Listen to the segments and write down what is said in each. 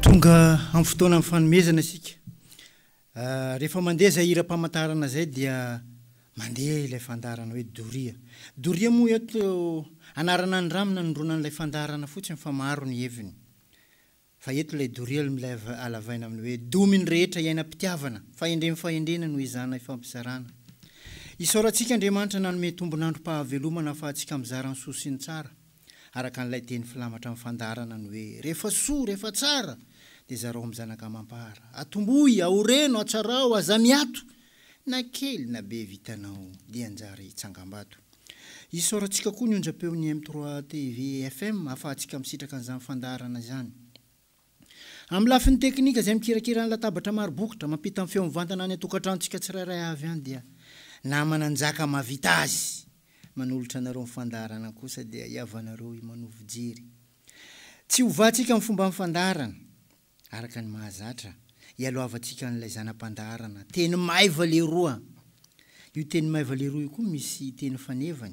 Tonga amin'ny fotoanan'ny fanomezana isika. Rehefa mandeha izay hiram-pamantarana izay dia mandeha ilay fandaharana hoe doria. Doria moa eto anarana ny rano nanondroana an'ilay fandaharana fotsiny fa maro ny heviny. Fa eto ilay doria ilay alavaina amin'ny hoe domy ny rehetra iainam-pitiavana, fahendren'ny fahendrena no izana ifampizarana. Isaorantsika Andriamanitra nanome tombon'androm-pahavelomana ahafahantsika mizara ny soa sy ny tsara. araka an'ilay teny filamatra amin'ny fandaharana ny hoe, Rehefa soa, rehefa tsara, dia zarao amin'ny zanaka amam-para. Atombohy, aoreno, atsarao, aza miato. Na kely na be vitanao, dia anjara hitsangambato. Isaorantsika koa ny onjam-peon'ny M3 TV FM ahafahantsika misitraka an'izany fandaharana izany. Amin'ny lafiny teknika izay mikirakira ny latabatra maro bokotra mampita ny feo mivantana any an-tokantranontsika tsirairay avy any dia na Mananjaka mahavita azy manolotra anareo ny fandaharana kosa dia hiavanareo i Manoa Fijery. Tsy hovatsika amin'ny fomban'ny fandaharana araka ny mahazatra hialohavantsika an'ilay zana-pandaharana teny maiva lehiroa. Io teny maiva lehiroa io koa misy teny fanevany.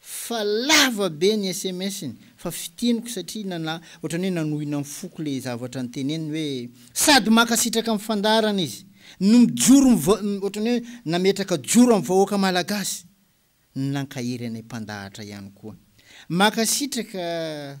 Fa lava be ny sms-ny fa fitiniko satria nana ohatrany hoe nanohina ny foko le zavatra niteneniny hoe sady mankasitraka am fandaharana izy no mijoro miva ohatrany hoe nametraka joro am vahoaka malagasy no nankahery anay mpandahatra ihany koa. Mankasitraka.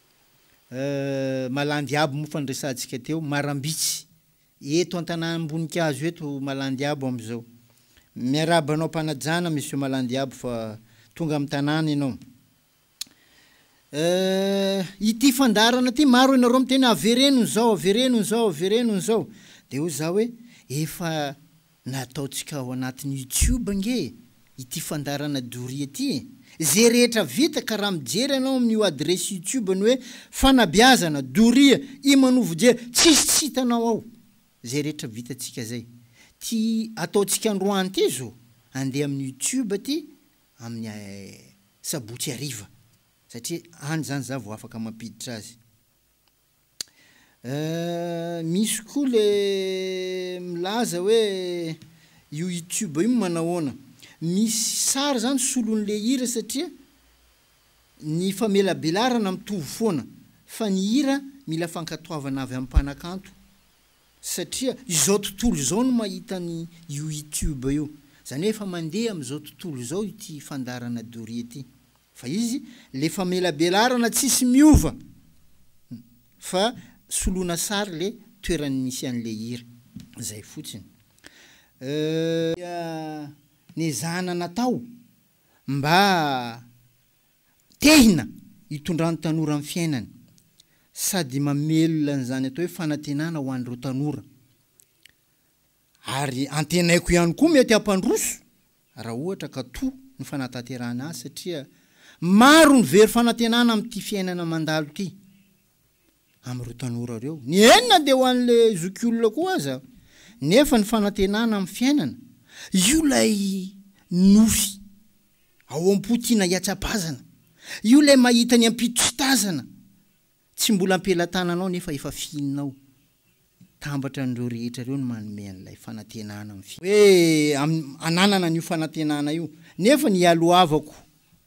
Euh malandy abo moa fa niresahantsika teo marambitsy eto antanamboninkazo eto malandy abo amizao miarahaba anao ampanajana monsieur malandy abo fa tonga am tanàna enao euh ity fandaharana ty maro enareo miteny avereno ny zao avereno ny zao avereno ny zao de hoy za hoe efa Na ataontsika ao anatin'ny youtube ange ity fandaharana doria ity e! Ze rehetra vita ka raha mijery ianao amin'io adiresy youtube-ny hoe fanabeazana doria i manovo dia tsisy tsy hitanao ao zay rehetra vitantsika zay! ty ataontsika androany ty zo andeha amin'ny youtube ty amin'ny sabotsy hariva satria any zany za vao afaka mampiditra azy Euh misy koa le milaza hoe io youtube io manahoana? Misy sary zany solon'le hira satria ny famelabelarana mitovy foana fa ny hira mila fankatoavana avy am mpanakanto satria izao tontolo izao no mahita ny io youtube io zany hoe efa mandeha amzao tontolo izao ity fandaharana doria ty. Fa izy le famelabelarana tsisy miova fa soloina sary le toerany misy anle hira zay fotsiny euh nezahana natao mba tehina hitondran tanora am fiainany sady mamelona anzany atao hoe fanatenana ho anreo tanora Ary antenaiko ihany koa mety hampandroso raha ohatra ka toa ny fanatanterahana azy satria maro ny very fanantenana amin'ity fiainana mandalo ity amin'ireo tanora ireo. Ny eny na dia ho an'ilay zokiolona koa aza nefa ny fanantenana amin'ny fiainana, io ilay nofy ao am-po tiana hihatsapazana, io ilay mahita ny ampitso sy tazana. Tsy mbola am-pelatananao nefa efa fihinao. Tambatra an'ireo rehetra ireo ny manome an'ilay fanantenana amin'ny. Hoe hananana an'io fanantenana io. Nefa ny ialohavako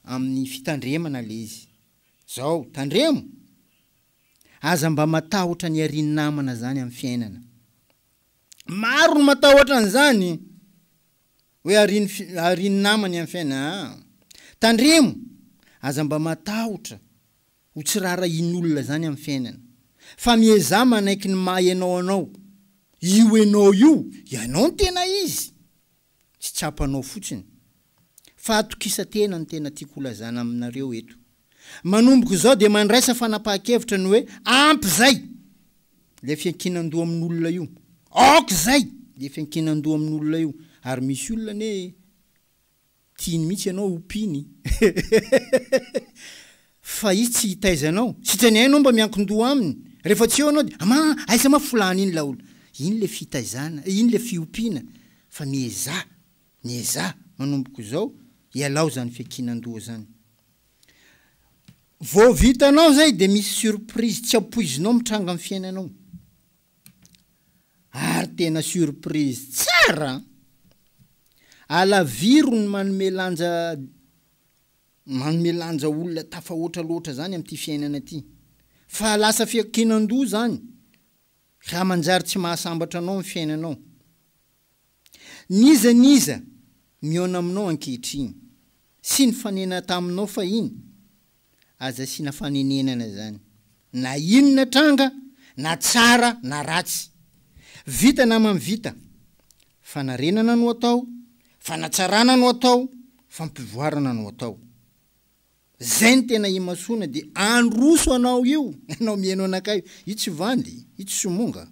amin'ny fitandremana ilay izy. Izao, tandremo! Aza mba matahotra ny harian'ny namana izany amin'ny fiainana. Maro no matahotra an'izany! Hoe harian'ny namany amin'ny fiainana. Tandremo! Aza mba matahotra Ho tsy raharahian'olona izany amin'ny fiainana. Fa miezaha manaiky ny maha ianao anao. Io ianao io, ianao ny tena izy! Tsy tsapanao fotsiny. Fahatokisa-tena no tena tiako holazana aminareo eto. Manomboka izao dia mandraisa fanapahan-kevitra ny hoe ampy izay! Ilay fiankinan-doha amin'olona io. Aoka izay! Ilay fiankinan-doha amin'olona io. Ary misy olona anie e! Tiany mihitsy ianao ho mpino i. Fa i tsy hitaiza anao. Sitrany hainao mba miankin-doha aminy. Rehefa tsy eo ianao dia, Ama, aiza ma folahan' iny laolo. Iny ilay fitaizana, iny ilay fiompiana. Fa miezaha, miezaha, manomboka izao, ialao izany fiankinan-doha izany. Vao vitanao izay dia misy surprise tsy ampoizinao mitranga amin'ny fiainanao. Ary tena surprise tsara an! Alaviro ny manome lanja manome lanja olona tafahoatra loatra zany amin'ity fiainana ity fa lasa fiankinan-doha zany raha manjary tsy mahasambatra anao ny fiainanao. N'iza n'iza mihaona aminao ankehitriny, sy nifanena taminao fahiny, aza asiana fanenenana izany, na inona tranga, na tsara na ratsy. Vita namany vita. Fanarenana no atao, fanatsarana no atao, fampivoarana no atao. Zay ny tena imasoana de androso anao io ianao mieno anakay io io tsy vandy io tsy somonga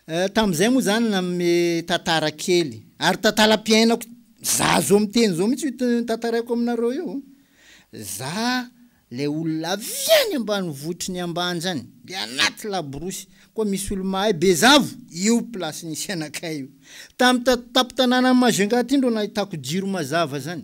eh tamzay moa zany nanome tantara kely ary tantalam-piainako za zao miteny zao mitsy io tantaraiko aminareo io za lay olona avy any ambanivohitry ny ambanja any de anaty laborosy koa misy olo mahay bezavo io place nisy anakay io tam tampon-tananan'i Majunga aty ndro nahitako jiro mazava zany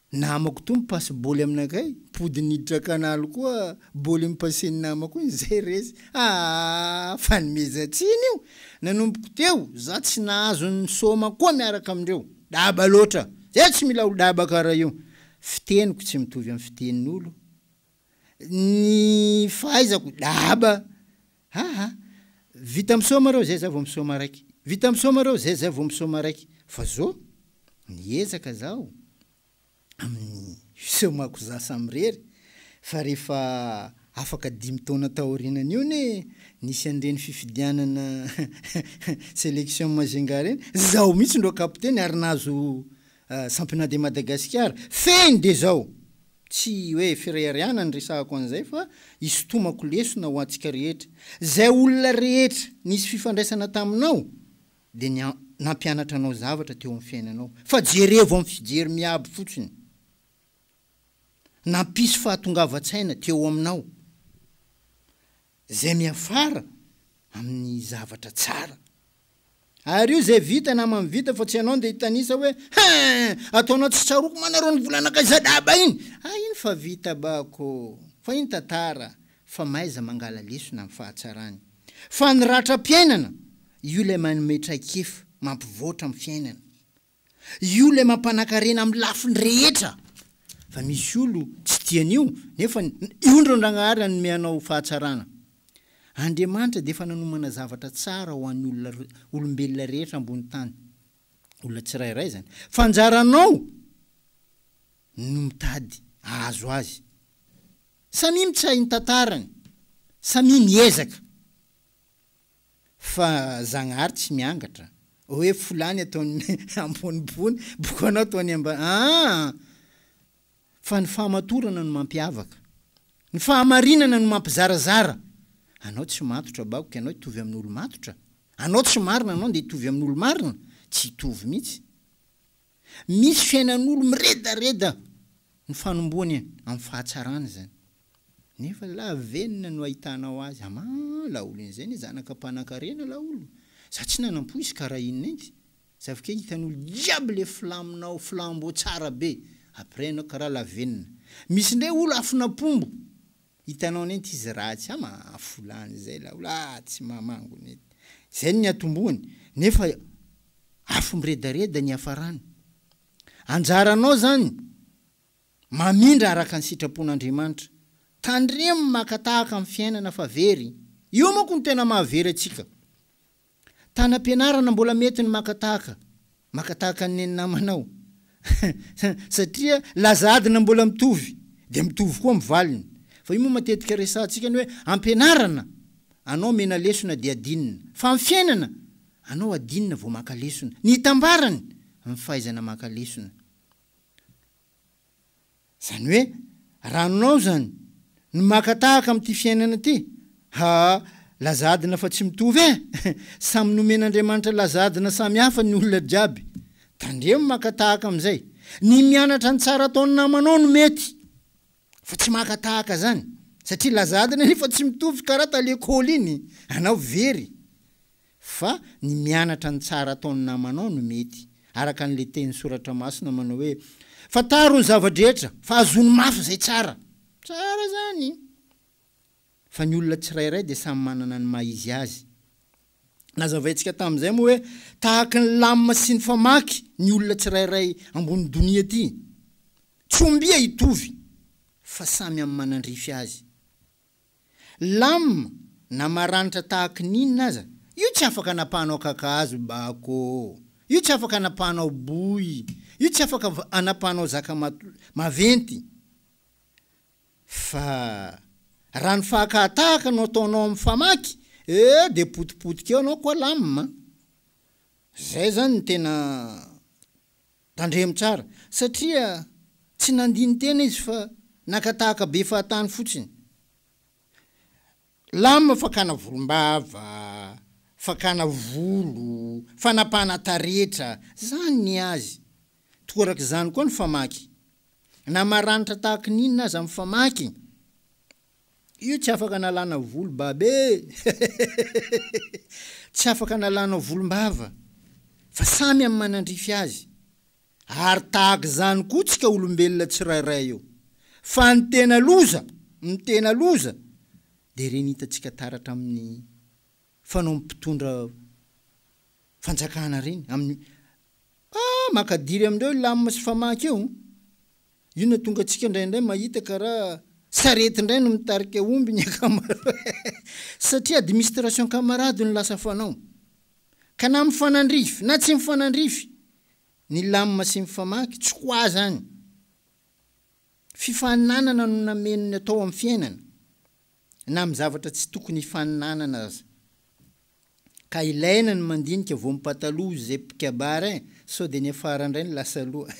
Namako toa mi-passe bôly aminakay, mpody niditra canal koa bôly mi-passe ny namako iny, zay resy. Aah! Fanomezan-tsiny io! Nanomboko teo, za tsy nahazo ny sôma koa miaraka amindreo. Daba loatra! Zay tsy mila olo-daba kara io! Fiteniko tsy mitovy am fitenin'olo, ny fahaizako dahaba aa vita misaoma reo zay za vao misaoma raiky vita misaoma reo zay za vao misaoma raiky fa zo miezaka zaho amin'ny fisaomako za samirery fa rehefa afaka dimy taona taorinan'io ne nisy an'ireny fifidianana selection majunga reny zaho mihitsy ndro kapiteny ary nahazo Ah, Sampina de Madagasikara, fehiny de zao! Tsy hoe firehareana ny resahako an'izay fa isintomako lesona ho antsika rehetra. Zay olona rehetra nisy fifandraisana taminao de ny nampianatra anao zavatra teo amin'ny fiainanao fa jerevo amin'ny fijery miabo fotsiny. Nampisy fahatongavan-tsaina teo aminao. Izay miafara amin'ny zavatra tsara. Ary io izay vita namany vita fa tsy ianao ndeha hitanisa hoe hein! ataonao tsy tsaroako manareo ny volanakay zadaba iny! ah iny fa vita bako fa iny tantara fa mahaiza mangala lesona amin'ny fahatsarany fa ny ratram-piainana io ilay manome traikefa mampivoatra amin'ny fiainana Io ilay mampanakarena amin'ny lafiny rehetra fa misy olo tsy tia an'io nefa io ndry Andragnahary hanome anao fahatsarana. Andriamanitra dia efa nanomana zavatra tsara ho an'ny olona olombelona rehetra ambony tany. Olona tsirairay izany. Fa anjaranao no mitady ahazo azy. Samia mitsahy ny tantarany. Samia miezaka. Fa zagnahary tsy miangatra. Oe folany ataony ambonibony bokanao ataony ambany aa! Fa ny fahamatorana no mampiavaka. Ny fahamarinana no mampizarazara. Anao tsy matotra bakoka ianao hitovy amin' olo-matotra? Anao tsy marina anao ndeha hitovy amin' olo-marina? Tsy hitovy mihitsy. misy fiainan'olo miredareda no fanombohany amin'ny fahatsarana izany. Nefa lavenona no ahitanao azy, amaa, laolo inizay ne zanaka mpanakarena laolo, za tsy nanampo izy ka raha inona inty, za avy kay hitan'olo jiaby le filaminao flambeau tsara be, après enao ka raha lavenona. Misy ndray olo afon'apombo. Hitanao nety izy ratsy a mahafolany zay la ola tsy mamango nety zay ny atombohany nefa afo miredareda ny hiafarany anjaranao zany mamindra araka ny sitrapon'Andriamanitra tandremo maka tahaka ny fiainana fa very io manko no tena mahavery antsika Tana am-pianarana mbola mety ny maka tahaka maka tahaka ny nenin'namanao satria laza adina mbola mitovy dia mitovy koa ny valiny fa io moa matetika resahantsika ny hoe am-pianarana anao omena lesona dia adinina fa amin'ny fiainana anao adinina vao maka lesona ny hitambarany ny fahaizana maka lesona Izany hoe ranonao izany no maka tahaka amin'ity fiainana ity? Haa laza adina fa tsy mitovy eh! Samy nomen'Andriamanitra laza adina samy hafa ny olona jiaby. Tandremo maka tahaka amin'izay. Ny mianatra ny tsara ataon'ny namanao no mety. Fa tsy maka tahaka zany satria laza adina nefa tsy mitovy kara ta lekôly iny anao very fa ny mianatra ny tsara ataony namanao no mety araka anle teny soratra masina manao hoe fantaro ny zava-drehetra fa azony mafy zay tsara tsara zany. fa ny olona tsirairay dia samy manana ny maha izy azy. Nazavaintsika tamin'izay moa hoe tahaka ny lamina sy ny famaky ny olona tsirairay ambony donia ity. Tsy ombia hitovy fa samy amin'ny manandrify azy. Lamina na maranitra tahaka ny inona aza, io tsy afaka anapahanao kakazo, bako, io tsy afaka anapahanao boy, io tsy afaka anapahanao zaka maventy. Fa raha ny fahakahatahaka no ataonao amin'ny famaky eh dia potipotika eo anao koa lamina an! Izay izany no tena tandremo tsara satria tsy nandini-tena izy fa naka tahaka be fahatany fotsiny. Lame fakana volombava, fakana volo, fanapahana taretra, zany ny azy. Torak'izany koa ny famaky. Na maranitra tahaka ny inona aza ny famaky, io tsy afaka analana volo baba e! Tsy afaka analana volombava, fa samy amin'ny manandrify azy. Ary tahaka izany koa tsika olombelona tsirairay eo. Fa ny tena loza, ny tena loza dia ireny hitantsika taratra amin'ny fanao ny mpitondra fanjakana ireny, amin'ny ah makadiry amin'ireo lam sy famaky io, io no atonga antsika indraindray mahita karaha sarety indray no mitarika omby ny ankamaroany satria administration camarade no lasa fanao. Ka na mifanandrify na tsy mifanandrify Ny lamina sy ny famaky, tsy ho ahy izany. Fifaninanana no nameno ny atao amin'ny fiainana, na amin'ny zavatra tsy tokony hifaninanana aza. Ka ilaina ny mandinika vao mipataloha izay mpikabary e, sao dia ny afara indray no lasa aloha.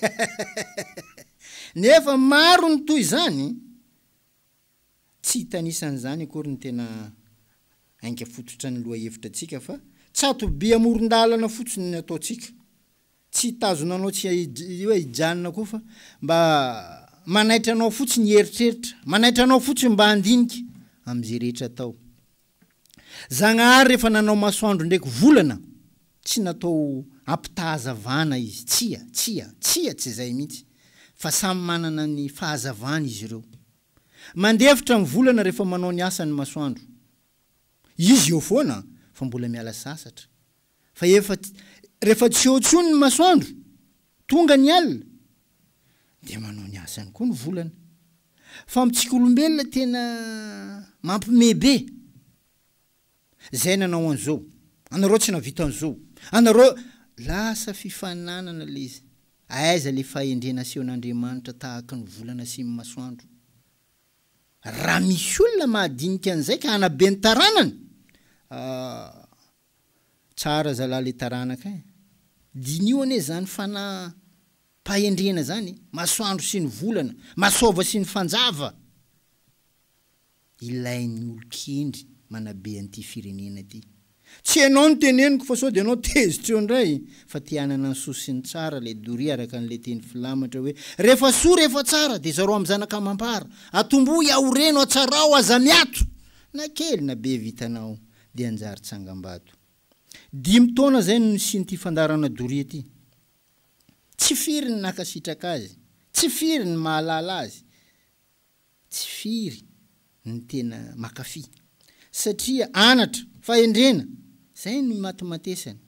Nefa maro ny toy izany. Tsy hitanisa an'izany akory ny tena ainga fototra ny lohahevitra antsika fa tsato-by amoron-dalana fotsiny ny ataontsika. Tsy hitazona anao tsy hoe hijanona koa fa mba manaitra anao fotsiny hieritreritra, manaitra anao fotsiny mba handinika amin'izay rehetra atao. Zagnahary rehefa nanao masoandro ndraiky volana, tsy natao hampitahazavana izy, tsia, tsia, tsia tsy izay mihitsy fa samy manana ny fahazavany izy ireo. Mandefitra ny volana rehefa manao ny asany ny masoandro. Izy eo foana fa mbola miala sasatra. Fa efa rehefa tsy eo intsony ny masoandro, tonga ny alina, dia manao ny asany koa ny volana. Fa amintsika olombelona tena mampime be. Zay nanao an'zao. Anareo tsy nahavita an'zao. Anareo Lasa fifaninanana le izy. Aiza le fahendrena asehon'Andriamanitra tahaka ny volana sy ny masoandro. Raha misy olona mahadinika an'zay ka hanabe ny taranany ah. Tsara zalah le taranaka eh. Diniho anie zany fanahy pahendrena zany eh. Masoandro sy ny volana. Masôva sy ny fanjava. Ilain'ny olon-kendry manabe an'ity firenena ity. Tsy ianao no teneniko fa sao dia ianao tezitra eo indray e! Fa te hanana ny soa sy ny tsara ilay doria araka an'ilay teny filamatra hoe, rehefa soa rehefa tsara dia zarao amin'ny zanaka amam-para, atombohy aho reno atsarao aza miato! Na kely na be vitanao dia hanjary tsangambato. Dimy taona izay no nisian'ity fandaharana doria ity. Tsy firy ny nankasitraka azy, tsy firy ny mahalala azy. tsy firy ny tena makafy satria anatra, fahendrena, zay no imatimatesany,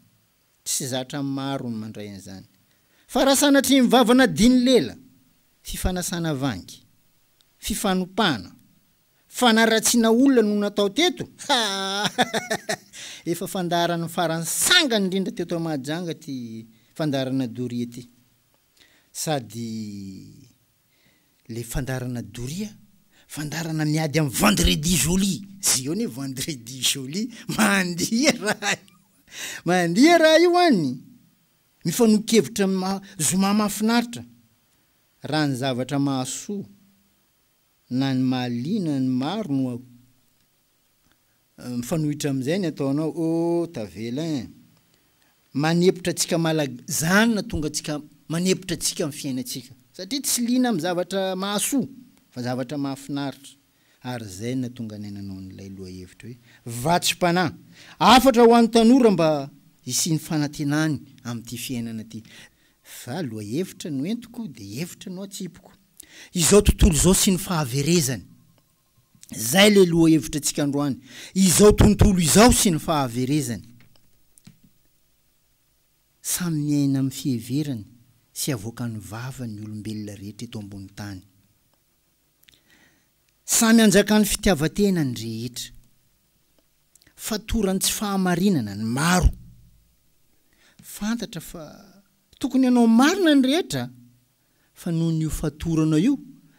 tsy zatra maro ny mandray an'izany fa raha sanatria mivavana diny lela, fifanasana vangy, fifanopana, fanaratsiana olona no natao teto, haahahahahha, efa fandaharan'ny farany sangany indrindra teto Mahajanga ty fandaharana doria ty, sady. Le fandarana doria fandarana miady am vendredi joli ze eo ne vendredi joli mandia raha io an mandia raha io an mifanokevitra am maha zoma mahafinaritra raha ny zavatra mahasoa na ny mahaliana ny maro no Mifanohitra amin'izay ny ataonao oh tavela eh. Manepotra antsika malag zany na tonga antsika manepotra antsika ny fiainantsika satria tsy liana amin'ny zavatra mahasoa fa zavatra mahafinaritra ary zay na tonga anay nanao an'ilay lohahevitra hoe vatsim-panahy hafatra ho an'ny tanora mba hisian'ny fanantenany amin'ity fiainana ity fa lohahevitra no entiko dia hevitra no atsipiko izao tontolo izao sy ny fahaverezany. Izay ilay lohahevitra antsika androany. Izao tontolo izao sy ny fahaverezany. Samy miaina amin'ny fiheverany sy avoakan'ny vavany ny olombelona rehetra eto ambony tany. Samy anjakan'ny fitiavan-tena ny rehetra. Fatoran'ny tsy fahamarinana ny maro. Fantatra fa tokony hanao marina ny rehetra. fa noho ny ho fatorana io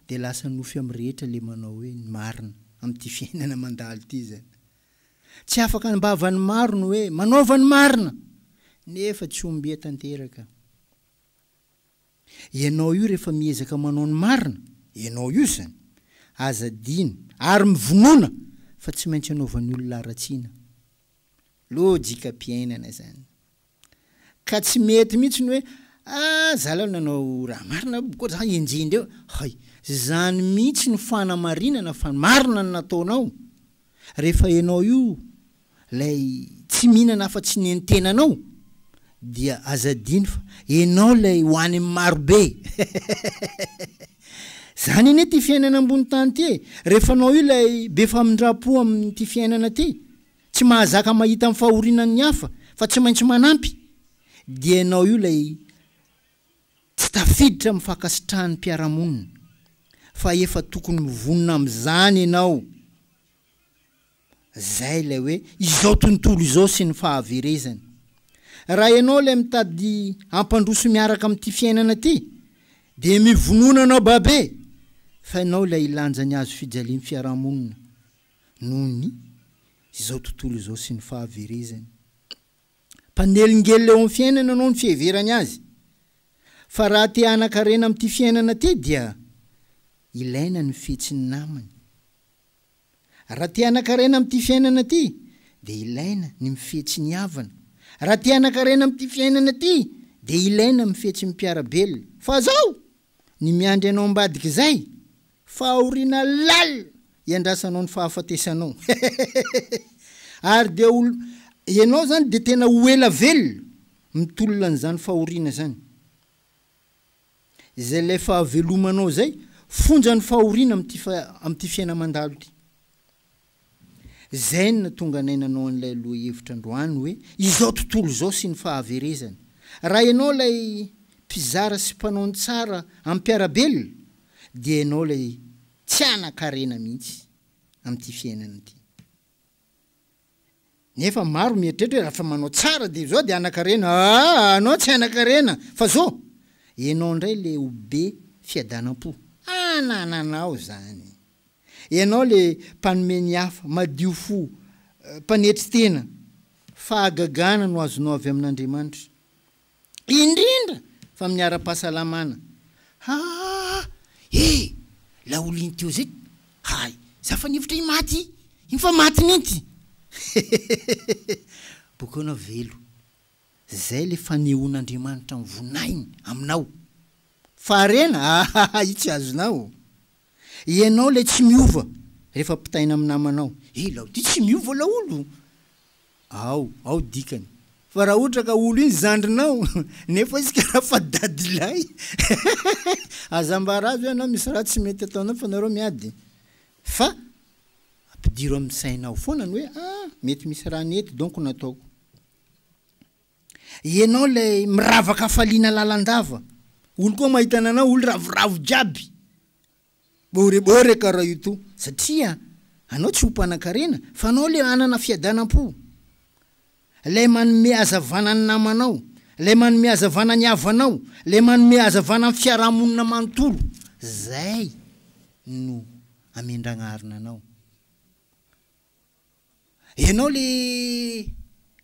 dia lasa nofy am rehetra le manao hoe ny marina am ty fiainana mandalo ty zany tsy afaka anbava ny maro ny hoe manaova ny marina nefa tsy ombia tanteraka ianao io rehefa miezaka manao ny marina ianao io zany aza adino ary mivonona fa tsy maintsy anaovany olona aratsiana lojika piainana zany. Ka tsy mety mihitsy ny hoe ah za lay nanao raha marina hoe bokotra zany enjehindreo e! hay! zany mihitsy no fanamarinana fa marina ny nataonao rehefa enao io lay tsy mihinana afa-tsy ny entenanao dia aza adino fa enao lay ho any amin'ny marobe zany anie ty fiainana ambony tany ty e! rehefa anao io lay be famindram-po amin'ity fiainana ty Tsy mahazaka mahita ny fahorianan ny hafa fa tsy maintsy manampy dia ianao io ilay tsy tafiditra amin'ny fankasitrahan'ny mpiara-monina fa efa tokony mivonona amin'izany ianao izay ilay hoe izao tontolo izao sy ny fahaverezany. Raha ianao ilay mitady hampandroso miaraka amin'ity fiainana ity dia mivonona anao babe fa ianao ilay hilanja ny hazo fijalian'ny fiarahamonina noho ny izao tontolo izao sy ny fahaverezany. Mpanelingelina eo amin'ny fiainana ianao ny fiheverany azy, fa raha te hanan-karena amin'ity fiainana ity dia ilaina ny fihetsiny namany. Raha te hanan-karena amin'ity fiainana ity dia ilaina ny mifihetsy ny havana. Raha te hanan-karena amin'ity fiainana ity dia ilaina mifihetsy ny mpiara-belona. Fa zao, ny miandry anao ambadik'izay Fahoriana lalina iandrasanao ny fahafatesanao ary dia ho ianao izany dia tena ho ela velona mitolona an'izany fahoriana izany. Izay ilay fahavelomanao izay fonjan'ny fahoriana amin'ity amin'ity fiaina-mandalo ity. Izay no natonga anay nanao an'ilay lohahevitra androany hoe izao tontolo izao sy ny fahaverezany. Raha ianao ilay mpizara sy mpanao ny tsara amim-piarabelona dia ianao ilay tsy hanan-karena mihitsy amin'ity fiainana ity. Nefa maro mieritreritra hoe rafa manao tsara de zao de anakarena aa anao tsy anakarena fa zo enao ndray le ho be fiadanampo anananao zany enao le mpanome ny hafa madio fo mpanetry tena fahagagana no azonao avy amin'Andriamanitra indrindra fa amin'ny ara-pahasalamana. Haa! E! Ilay olona iny teo zay, hay! Za fa nihevitra himaty iny fa maty mihintsy! Hehehehe! Bokeo ianao velo. Zay ilay fanehoan'Andriamanitra ny voninahiny aminao. Fa harena? Ahaha! Io tsy azonao. Ianao ilay tsy miova rehefa pitaina amin'ny namanao. He laolo ty tsy miova laolo! Ao, ao dikany. Fa raha ohatra ka olo iny zandrinao, nefa izy ka raha fa dadilahy hehehehe! Aza ambara azy hoe ianao misy raha tsy mety ataonao fa nareo miady. Fa ampidiro amin'ny sainao foana ny hoe ah mety misy raha nety donko nataoko. Ianao ilay miravaka hafaliana lalandava. Olo koa mahita ananao olo ravoravo jiaby. Bôrebôreka ra io to satria anao tsy ho mpanan-karena fa anao ilay hanana fiadanam-po. Ilay manome hazavana ny namanao, ilay manome hazavana ny havanao, ilay manome hazavana ny fiarahamonina manontolo. Izay no amin-dragnarina anao. Ianao le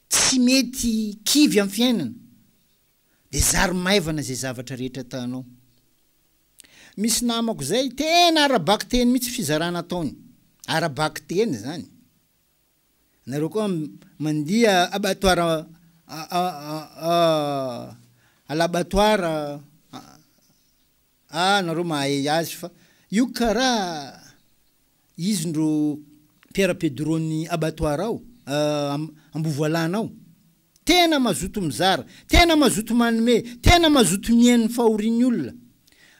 tsy mety kivy am fiainana de zary maivana ze zavatra rehetra ataonao. Misy namako zay tena ara-bakiteny mitsy fizarana ataony. Ara-bakiteny zany. Nareo koa mandia abattoir à l'abattoir Ah nareo mahay azy fa io karaha izy ndro Pierre Pedro ny abattoir ao ah Ambovoalana ao. Tena mazoto mizara, tena mazoto manome, tena mazoto mihaino ny fahorian'ny olona.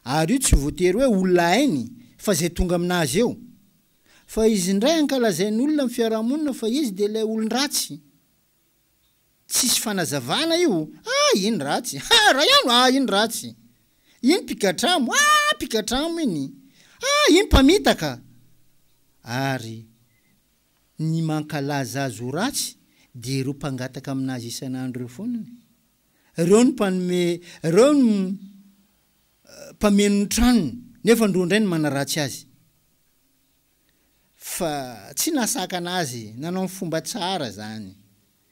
Ary io tsy voatery hoe olona hainy fa izay tonga aminazy eo. Fa izy ndray ankalazain'olona amin'ny fiarahamonina fa izy dia ilay olon-dratsy. Tsisy fanazavana io ah iny ratsy ah Raiano ah iny ratsy iny mpigadramo ah mpigadramo iny ah iny mpamitaka ary ny mankalaza azy ho ratsy dia ireo mpangataka aminazy isan'andro ireo foana ny reo no mpanome reo no mpameno ny tranony nefa ndroa ndray no manaratsy azy. fa tsy nasakana azy nanao ny fomba tsara zany.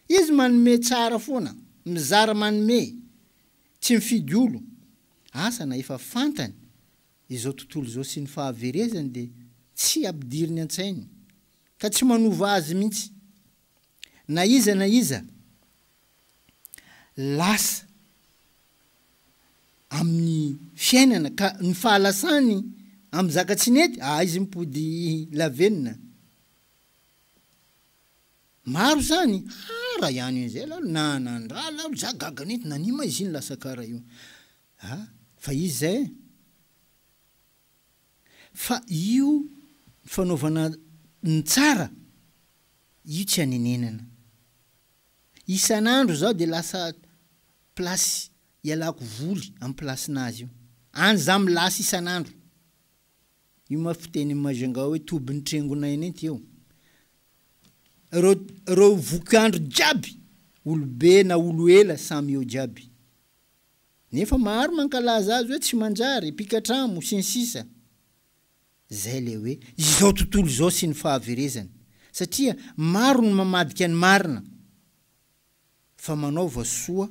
Izy manome tsara foana, mizara manome, tsy mifidy olo. Asa na efa fantany izao tontolo izao sy ny fahaverezany dia tsy ampidiriny antsainy ka tsy manova azy mintsy. na iza na iza lasa amin'ny fiainana ka ny fahalasany amin'ny zaka tsy nety ah izy mipody lavenona maro zany hara ihany io zay lalo na nandra lalo za gaga nety nania ma izy iny lasa kara io ah fa izy zay Fa io fanaovana ny tsara io tsy anenenana. Isan'andro zaho dia lasa place ialako voly amin'ny place-nazy io. Any za milasa isan'andro. Io ma fitenin'i Majunga hoe tobin'ny trengonay anie ty eo. Reo reo vokandro jiaby olobe na olo ela samy eo jiaby. Nefa maro mankalaza azy hoe tsy manjary, mpikatramo, sy ny sisa Izay ilay hoe izao tontolo izao sy ny fahaverezany, satria maro ny mamadika ny marina, fa manaova soa,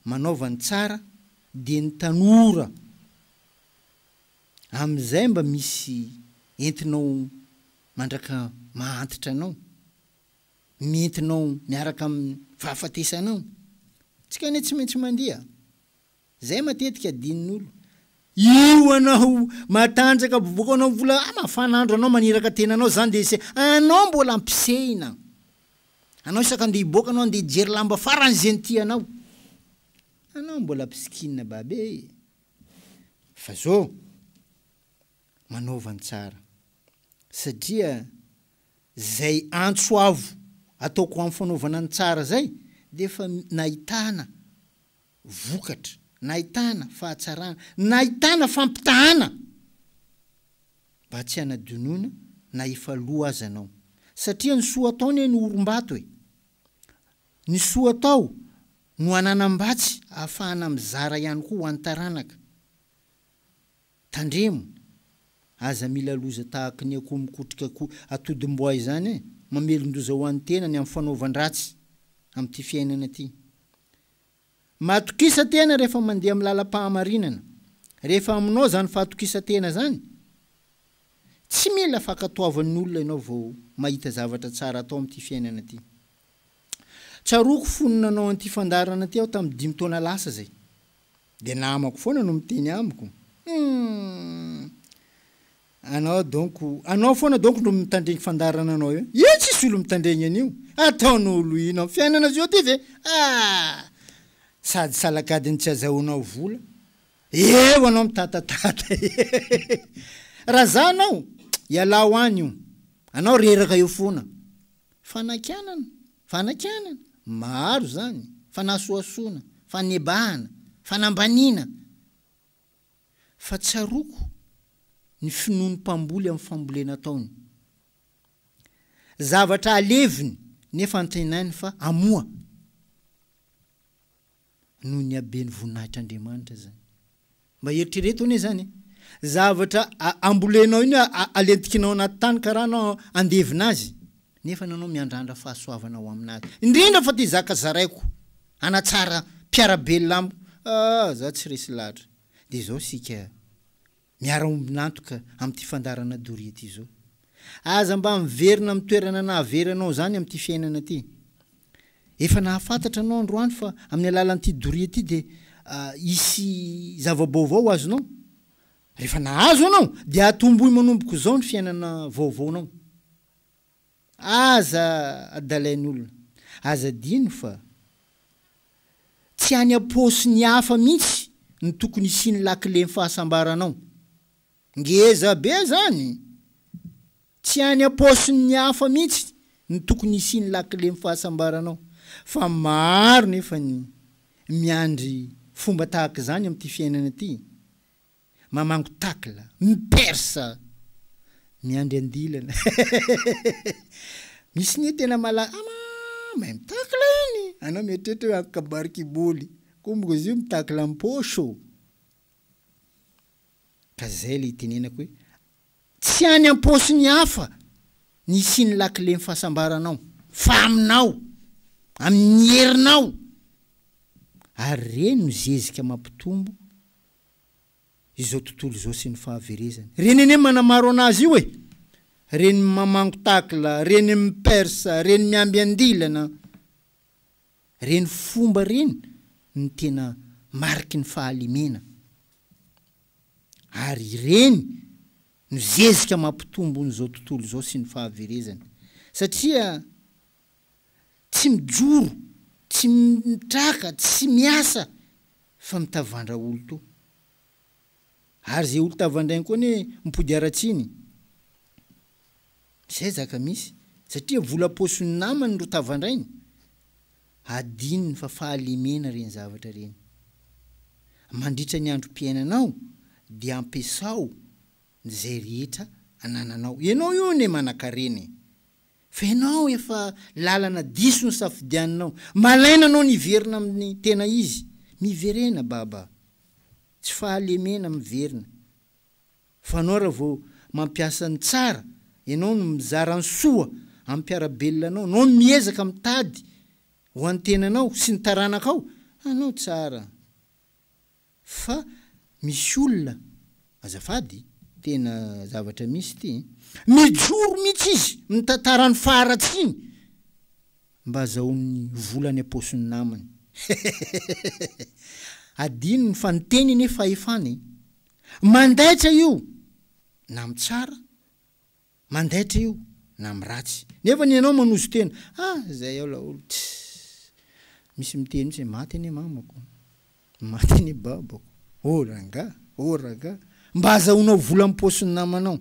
manaova ny tsara, dia ny tanora amin'izay mba misy entinao mandraka mahantitra anao. nentinao miaraka amin'ny fahafatesanao. Antsika anie tsy maintsy mandia. Izay matetika adinon'olo. Io anao matanjaka bobokanao vola ah mafana andro anao maniraka tenanao zany de se anao mbola ampisehina anao isaka andeha hiboaka anao andeha hijery lamba farany ze ny tianao anao mbola mpisikina babe e fa zo manaova ny tsara satria Zay antso avo ataoko am fanaovana ny tsara zay de efa nahitana vokatra, nahitana fahatsarana, nahitana fampitahana mba tsy hanadinoina na efa lo aza anao satria ny soa atao anie no orimbato e! Ny soa atao no ananam-batsy ahafahana mizara ihany koa ho an'ny taranaka. Tandremo, aza mila loza tahaka ny akoho mikotrika akoho atodim-boay izany e! Mamelon-doza ho an'ny tena ny amin'ny fanaovan-dratsy amin'ity fiainana ity. Matokisan-tena rehefa mandeha amin'ny lalam-pahamarinana. Rehefa aminao izany fahatokisan-tena izany, tsy mila fankatoavan'ny olona ianao vao mahita zavatra tsara atao amin'ity fiainana ity. Tsaroako fony nanao an'ity fandaharana ity aho tamin'ny dimy taona lasa izay. Dia namako foana no miteny amiko humm. Anao donc anao foana donc no mitandregny fandaharana anao eo io tsisy olo mitandregny an'io ataon'olo ino am fiainana zao ty ve ah sady salakadiny tsy azahoanao vola eo anao mitatatata ee raha za anao ialao any io anao reraka eo foana Fanakianana, fanakianana, maro izany, fanasohasoana, fanebahana, fanambaniana, fa tsaroako ny finoan'ny mpamboly amin'ny fambolena ataony. Zavatra aleviny nefa antenainy fa hamoa. noho ny haben'ny voninahitr'Andriamanitra izany. Mba eritrereto anie izany e! Zavatra ambolenao iny hoe alentikinao anaty tany ka rano andevina azy, nefa nanao miandrandra fahasoavana ho aminazy. Indrindra fa te hizaka zaraiko, hanatsara mpiara-belona amiko, ah za tsy resy lahatra. Dia izao isika. Miara-ombin'antoka amin'ity fandaharana doria ity izao. Aza mba miverina amin'ny toerana nahavery anao izany amin'ity fiainana ity. Efa nahafantatra anao androany fa amin'ny alalan'ity doria ity dia hisy zava-baovao azonao. Rehefa nahazo anao dia atomboy manomboka izao ny fiainana vaovaonao. Aza adalain'olona. Aza adino fa tsy any am-paosin'ny hafa mihitsy no tokony hisian'ny lakilen'ny fahasambaranao. Ngeza be izany! Tsy any am-paosin'ny hafa mihitsy no tokony hisian'ny lakilen'ny fahasambaranao. Fa maro nefa ny miandry fomba tahaka izany amin'ity fiainana ity. Mamango tacle, mipersa, miandry andilana. Misy anie tena malaza, ah maa mahay mitacle iny, anao mieritreritra hoe antoka barikiboly, komboko izy io mitacle am-paosy ô. Ka zay le itenenako hoe tsy any am-paosin'ny hafa ny hisian'ny lakilen'ny fahasambaranao fa aminao, amin'ny herinao. Ary reny no zezika mampitombo izao tontolo izao sy ny fahaverezany. Reny anie manamaro anazy io e! Reny mamango takla, reny mipersa, reny miamby andilana. Reny fomba reny no tena mariky ny fahalemena. Ary ireny no zezika mampitombo ny izao tontolo izao sy ny fahaverezany. Satria. tsy mijoro, tsy mitraka, tsy miasa fa mitavandra olo to. Ary ze olo tavandrainy koa anie mipody haratsiny. Zay zaka misy satria vola paosiny namany ro tavandrainy. Adinony fa fahalemena reny zavatra reny. Mandritra ny androm-piainanao dia ampiasao zay rehetra anananao. Enao io anie manakarena e. Fa ianao efa lalana diso ny safidianinao. Malaina anao ny hiverina amin'ny tena izy. Miverena Baba. Tsy fahalemena miverina. Fa anao raha vao mampiasa ny tsara, ianao no mizara ny soa amin'ny mpiara-belona anao, anao no miezaka mitady ho an'ny tenanao sy ny taranakao, anao tsara. Fa misy olona, azafady, tena zavatra misy ity eh, mijoro mihitsy izy mitantara ny faharatsiany mba azahoany vola any am-paosin'ny namany. Adinony fa ny teny anie fahefana eh. Mandaitra io na mitsara mandaitra io na am ratsy nefa ny ianao manozo tena ah zay ao laolo tsy misy miteny mitsy maty anie mamako maty anie babako oh rangah oh ragah mba azahoanao vola am paosiny namanao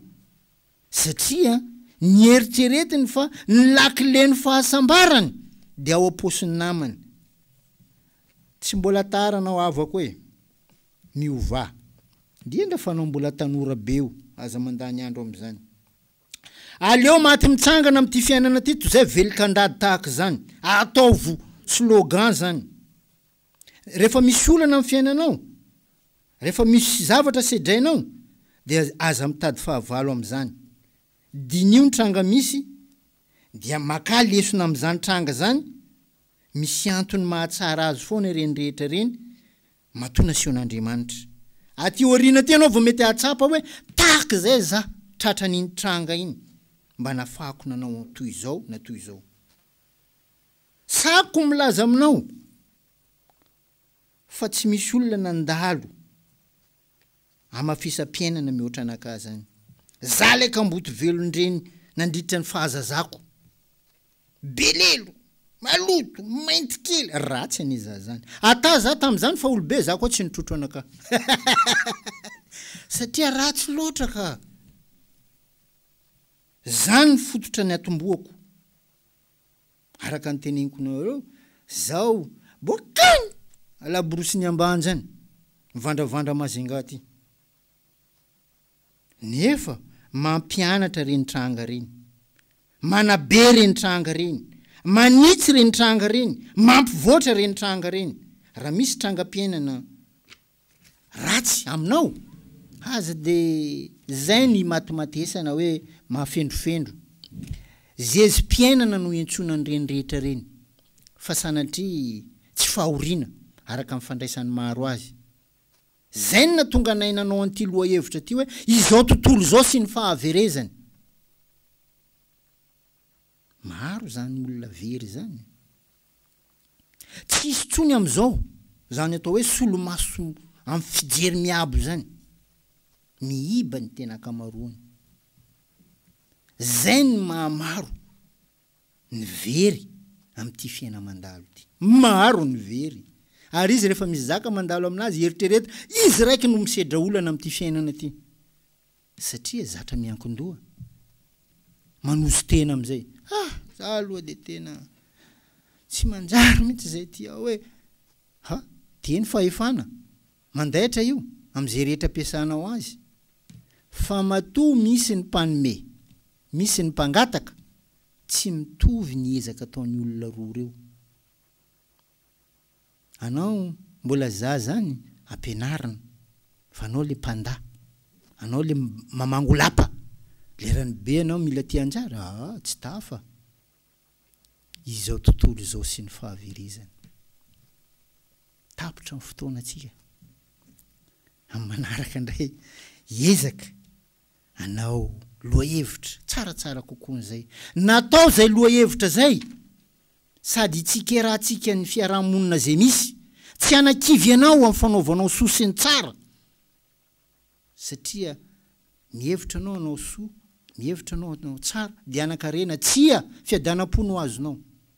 satria nieritreretiny fa ny lakile ny fahasambarany dia ao am paosiny namany tsy mbola tara anao havako e miovà. Dia nga fanao mbola tanora be io aza mandany andro amzany. Aleo maty mitsangana amty fiainana ty tozay velon-kandady tahaka zany. Ataovo slogan zany. Refa misy olana am fiainanao, refa misy zavatra sedrainao dia aza mitady fahavalo amzany. Diniho ny tranga misy dia makà lesona amzany tranga zany Misy antony mahatsara azy foana ireny rehetra ireny matoa nasehon'Andriamanitra. Aty aoriana aty ianao vao mety hahatsapa hoe, 'Tahaka izay izaho tratran'iny tranga iny mba nafahako nanao toy izao na toy izao. Sahako ny milaza aminao fa tsy misy olona nandalo Hamafisam-piainana mihoatra anakah zany. Za lay kamboty velon-dreny nandritra ny fahazazako. Belelo, maloto, mainty kely, ratsy anie za zany. Ata za tamzany fa olobe za koa tsy nitrotro anakah. Satria ratsy loatra ka. Zany ny fototra niatombohako. Araka ny teneniko nareo zao bokany alaborosiny ambanja any mivandravandra Majunga aty nefa mampianatra reny tranga reny manabe reny tranga reny manitsy reny tranga reny mampivoatra reny tranga reny raha misy trangam-piainana ratsy aminao? Aza dia izay ny imatimatesana hoe mahafendrofendro. Zezi-piainana no iantsoana an'ireny rehetra ireny, fa sanatria tsy fahoriana, araka ny fandraisan'ny maro azy. Izay no nahatonga anay nanao an'ity lohahevitra ity hoe izao tontolo izao sy ny fahaverezany. Maro izany olona very izany. Tsy hisy intsony amin'izao izany atao hoe solomaso amin'ny fijery miabo izany. Miiba ny tena ankamaroany. Izay ny maha maro ny very amin'ity fiaina mandalo ity. Maro ny very, ary izy rehefa misy zaka mandalo aminazy, eritrereto, izy raiky no misedra olana amin'ity fiainana ity. Satria zatra miankin-doha. Manoso tena amin'izay. Ah! Za aloha dia tena tsy manjary mihitsy izay ity aho e! Ha! Dia ny fahefana, mandaitra io, amin'izay rehetra ampiasanao azy. Fa matoa misy ny mpanome, misy ny mpangataka, tsy mitovy ny ezaka ataon'ny olona roa ireo. Anao mbola zaza any ampianarina fa anao le panda anao le mamango lapa lerany be anao mila tia anjara aa tsy tafa izao tontolo izao sy ny fahaverezany tapitra ny fotoana tsika am manaraka ndray ezaka Hanao lohahevitra tsaratsara kokoa an'izay. Natao izay lohahevitra izay sady hitsikerahantsika ny fiaraha-monina izay misy. Tsy hanakivy anao amin'ny fanaovanao soa sy ny tsara satria mihevitra anao hanao soa, mihevitra anao hanao tsara dia hanan-karena. Tsia, fiadanam-po no azonao.